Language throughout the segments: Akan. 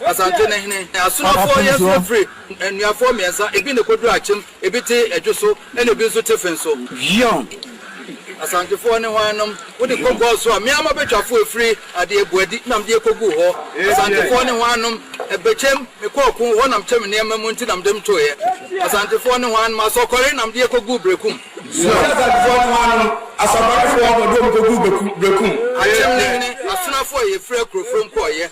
Asante no hene asomafoɔ yɛ nso firi nnuafoɔ mmiɛnsa, ebi na ɛkɔduru Akyem, ebi te Adwo so, ɛnna ebi nso te Fen so. Yion. Asantefoɔ ne hwannom? Wode kɔ Gɔs so a, mmea mmabetwafoɔ a ɛfiri adeɛ Boadi na mede kɔguu hɔ. Asantefoɔ ne hwannom? Ɛbɛkyɛm, mekɔɔ ɔko, hɔ na mekyɛm nneɛma mu nti na mede mo toeɛ. Asantefoɔ ne hwannom? Asɔkɔre na mede kɔguu Berekum. Yion. Asantefoɔ ne hwannom? Asɔkɔrefoɔ na wɔde wɔn kɔguu Berekum. Akyem no hene asomafoɔ a yɛfiri Akurofrom kɔeɛ.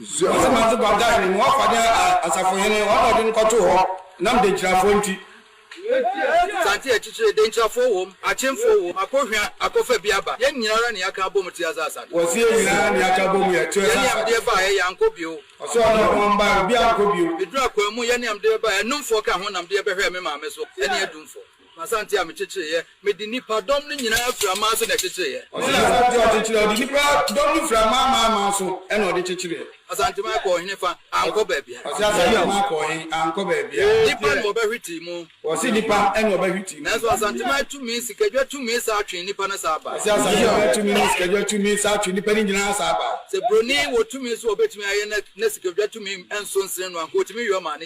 Nsuo nsɛm adze ba Dan no mu wɔfa dɛ asafohene, wɔn na wɔde no kɔtoo hɔ nam denkyirafoɔ nti. Asante yɛ kyekyere, denkyirafoɔ wɔ mu, akyemfoɔ wɔ mu, akɔhwia, akɔfa bi aba. Yɛn nyina ara na yɛaka abɔ mu te aza Asante. Wɔse yɛn nyina ara na yɛaka abɔ mu yɛte aza Asante. Yɛne ɛmdeɛ baeɛ, yɛankɔ bio. Ɔse ɔne ɔno ɔmbaeɛ, obi ankɔ bio. Meduru akwaa mu, yɛne ɛmdeɛ baeɛ, Anumfoɔ ka ho nam deɛ bɛhwɛɛ me maame so, ɛne Adumfoɔ. M'Asante a mekyekyereeɛ. Mede nnipa dɔm no nyinaa firii aman so na ɛkyekyereeɛ. Ɔsene Asante a ɔkyekyereeɛ. Ɔde nnipa dɔm no firii aman aman aman so na ɔde kyekyereeɛ. Asanteman kɔɔ he fa a ankɔ baabiara? Ɔse Asanteman kɔɔ he a ankɔ baabiara. Nnipa na wɔbɛhwetee mu. Ɔse nnipa na wɔbɛhwetee mu. Nanso Asanteman tumi, sikadwa tumi saa twee nnipa no saa bae. Ɔse Asanteman tumi ne sikadwa tumi saa twee nnipa no nyinaa saa bae. Sɛ buroni wɔ tumi so a ɔbɛtumi ayɛ na sikadwa tumi nso nsene no a, anka ɔtumi yɔ ma ne.